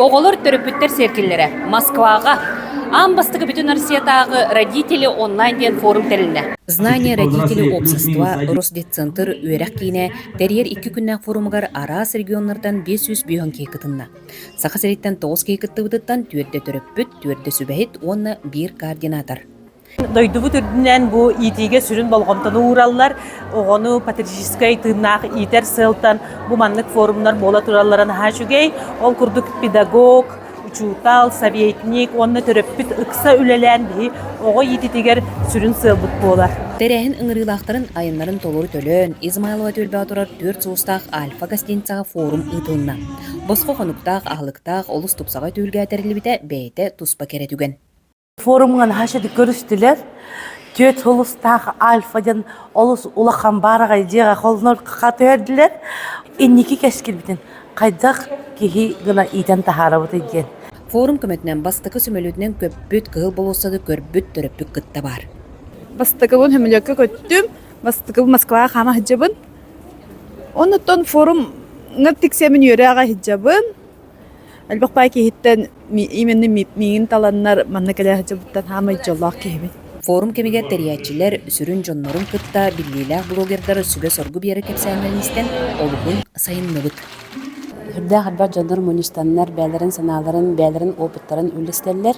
Оҕолор төрөппүттэр сиэркиллэрэ Москваҕа аан бастакы бүтүн Россиятааҕы Родители онлайн диэн форум тэрилинэ. Знание родителей общества Росдетцентр үөрэх киинэ тэрийэр икки күннээх форумугар араас регионнартан биэс сүүс бөһүөн киһи кытынна. Саха сириттэн тоҕус киһи кыттыбытыттан түөртэ төрөппүт, түөртэ сүбэһит уонна биир координатор. Дойдубут үрдүнэн бу иитиигэ сүрүн болҕомтону уураллар. Оҕону патриотическай тыыннаах иитэр сыалтан бу маннык форумнар буола тураллара наһаа үчүгэй. Ол курдук педагог, учуутал, советник уонна төрөппүт ыкса үлэлээн биһи оҕо иититигэр сүрүн сыалбыт буолар. Тэрээһин ыҥырыылаахтарын айаннарын толору төлөөн, Измайлова түөлбэҕэ турар түөрт сулустаах альфа гостиницаҕа форум ыытылынна. Босхо хонуктаах, аһылыктаах олус тупсаҕай түһүлгэ тэриллибитэ бэйэтэ туспа кэрэ түгэн. форумҥа наһаа шеди көрүстүлэр түөрт сулустаах альфа диэн олус улахан баараҕай дьиэҕэ холонор хаатыһэрдилэр инники кэскилбитин хайдах киһи гына иитэн таһаарабытый диэн форум көмөтүнэн бастакы сөмөлүөтүнэн көппүт кыһыл болуоссаны көрбүт төрөппүт кытта баар бастакыбын сөмөлүөккэ көттүм бастакыбын москваҕа хаама сылдьабын оннуттан форумҥа тиксэмин үөрэ аҕа сылдьабын Элбэх баай киһиттэн именно миигин таланнар манна кэлэ сылдьыбыттан саамай дьоллоох киһибин. Форум кэмигэр тэрийээччилэр сүрүн дьоннорун кытта биллиилээх блогердар сүбэ-соргу биэрэ кэпсээһинин иистэн олуһун сайынныбыт. Сүрдээх элбэх дьоннор мунньустаннар бэйэлэрин санааларын, бэйэлэрин опыттарын үллэстэллэр,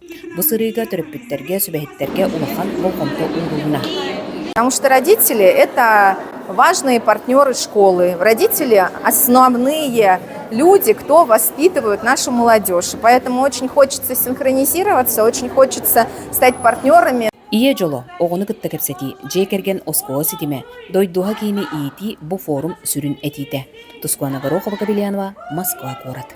Бу сырыыга төрөппүттэргэ, сүбэһиттэргэ улахан болҕомто уурулунна. Потому что родители – это важные партнеры школы, родители – основные люди, кто воспитывают нашу молодежь. Поэтому очень хочется синхронизироваться, очень хочется стать партнерами. Ийэ дьоло, оҕону кытта кэпсэтии, дьиэ кэргэн оскуола ситимэ, дойдуһа киини иитии бу форум сүрүн этиитэ. Тускуана Горохова-Кобельянова, Москва куорат.